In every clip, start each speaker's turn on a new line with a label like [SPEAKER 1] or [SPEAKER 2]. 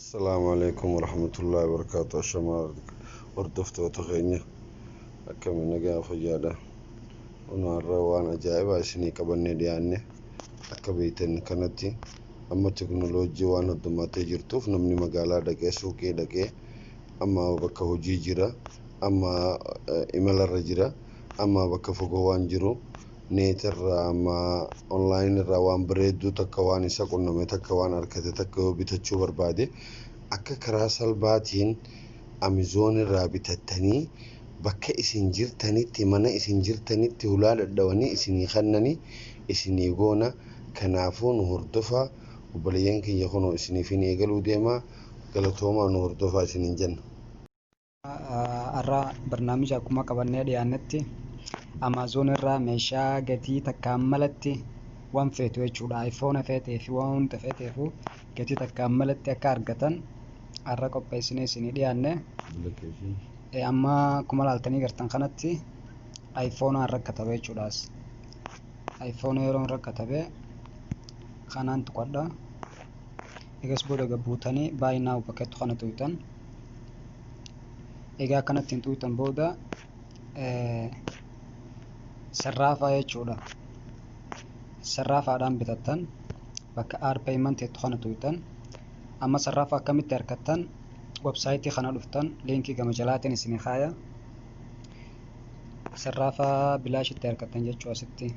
[SPEAKER 1] Assalaamu alaikum warahmatullahi wabarakaatu ashamaa hordoftoota keenya akkami nagaa fayyaadha Kunoo har'a waan ajaa'ibaa isinii qabannee dhiyaanne akka beektan kanatti amma teknoloojii waan addummattee jirtuuf namni magaalaa dhaqee suuqii dhaqee amma bakka hojii jira amma eh, imalarra jira amma bakka fagoo waan jiru Net irraa amma online irraa waan bareedduu takka waan isa qunname takka waan arkate takka yoo bitachuu barbaade akka karaa salbaatiin Amazon irraa bitattanii bakka isin jirtanitti mana isin jirtanitti hulaa dhadhawanii isinii kannani isinii goona kanaafuu nu hordofa obboleeyyan keenya kunoo isiniifin eegaluu deema galatoomaa nu hordofaa isinin jenna. Har'a
[SPEAKER 2] barnaamija akkuma qabannee dhiyaannetti Amaazoon irraa meeshaa gatii takkaan malatti waan feetu jechuudha. Ayfoona feetee fi waan hunda feeteefu gatii takkaan malatti akka argatan har'a qopheessinee isinii dhiyaanne. Eh, Amma akkuma laaltanii gartan kanatti ayfoonaan rakkatabe jechuudhaas. Ayfoona yeroon rakkatabe kanaan tuqadha. Egas booda gad buutanii buy now bakka jettu kana tuqxan. Egaa kanatti hin tuqxan booda sarraafaa jechuudha. Sarraafaadhaan bitattan bakka add payment jettu kana tuqxan. Amma sarraafa akkamitti argattan websaayitii kana dhuftan liinkii gama jalaatiin isin kaaya. Sarraafa bilaashitti argattan jechuu asitti.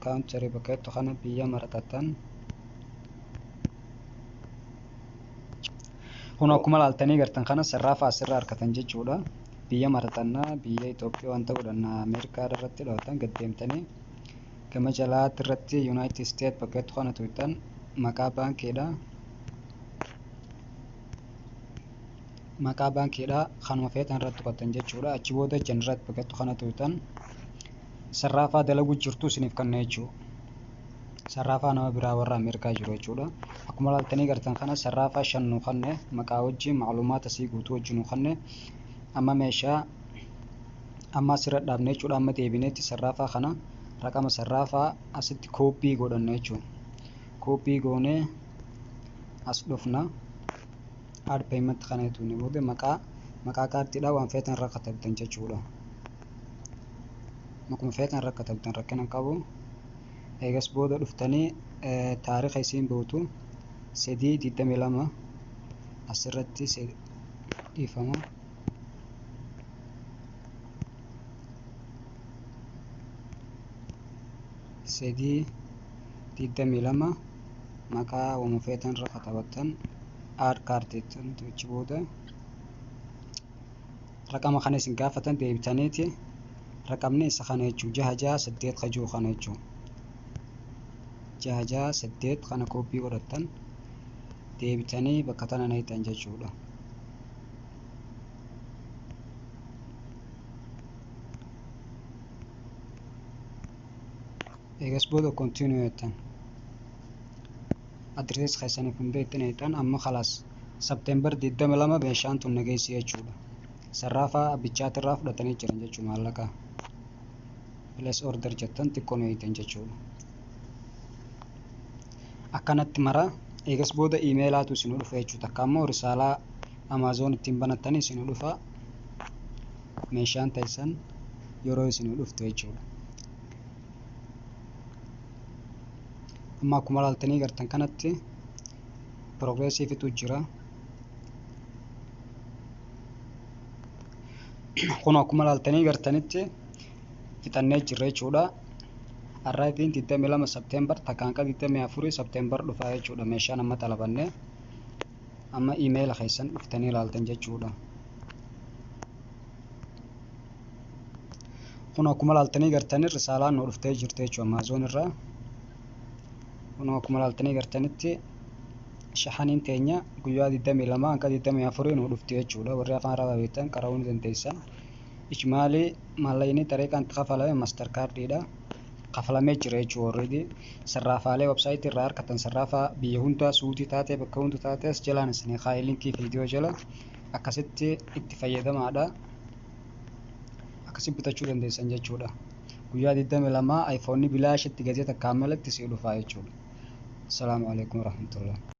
[SPEAKER 2] country bakka jettu kana biyya maratattan kun akkuma laaltanii gartan kana sirraa fa'aa sirraa harkatan jechuudha biyya maratannaa biyya Itoophiyaa wanta godhanna Ameerikaa irratti dhawatan gad deemtanii gama jalaatti irratti Yuunaayitid Isteet bakka jettu kana tuutan maqaa baankiidha maqaa baankiidha kanuma feetan irratti tuqattan jechuudha achi booda generate packettu kana tuqtan sarraafaa dalaguu jirtu isiniif kanna jechuudha sarraafaa nama biraa warra ameerikaa jiru jechuudha akkuma laaltanii gartan kana sarraafaa shan nu kanne maqaa wajjin macluumaata sii guutuu wajjin nu kanne amma meeshaa amma asirra dhaabne jechuudha amma deebineetti sarraafaa kana raqama sarraafaa asitti kooppii godhanna jechuudha kooppii goonee as dhufna add payment kana tuqne booda maqaa maqaa kaartiidhaa waan feetan irra katabdan jechuudha. Maquma feetan irra katabdan rakkina hin qabu. Eegas booda dhuftanii taariikha isiin bootu sadii digdamii lama asirratti dhiifama. Sadii digdamii lama. maqaa wama feetan irra katabattan aad kaart jettan achi booda raqama kana isin gaafatan deebitaniiti raqamni isa kana jechuu jaha jaha saddeet ka jiru kana jechuu jaha jaha saddeet kana koppii godhattan deebitanii bakka tana neeyxan jechuudha. eegas booda continue jettan adrees keessaniif hin beekne jedhan amma kalaas September 22 meeshaan tun nageessi jechuudha sarraafaa abbichaati irraa fudhatanii jiran jechuu maallaqa place order jettan xiqqoo eegdan jechuudha akkanatti mara eegas booda imeelaatu isin dhufa jechuudha takka ammoo risaalaa amaazoon ittiin banattanii isin dhufa meeshaan teessan yeroo isin dhuftu jechuudha. Amma akkuma ilaaltanii gartan kanatti piroogreesiifitu jira. Kun akkuma ilaaltanii gartanitti fixannee jirra jechuudha. Arriving 22 September takkaan akka 24 September dhufaa jechuudha meeshaan amma xalabanne. Amma iimeela keessan dhuftanii ilaaltan jechuudha. Kun akkuma ilaaltanii gartanii risaalaan nu dhuftee jirti jechuudha Amaazoon irraa. Kun akkuma ilaaltanii gartanitti shahaniin teenya guyyaa 22 hanga 24 nu dhufti jechuudha. Warri afaan arabaa beektan qara'uu ni dandeessan. Ijmaalii maallaqni xariiqaan itti kafalame master kaardiidha. kafalamee jira jechuudha already sarraafaalee website irraa harkatan sarraafaa biyya hundaa suutii taatee bakka hunda taatee as jalaan isinii kaa'ee linkii viidiyoo jala akkasitti itti fayyadamaadha akkasitti bitachuu dandeessan jechuudha guyyaa 22 iPhone bilaashitti gatii takkaan malatti si dhufaa jechuudha. Assalamu alaikum warahmatullahi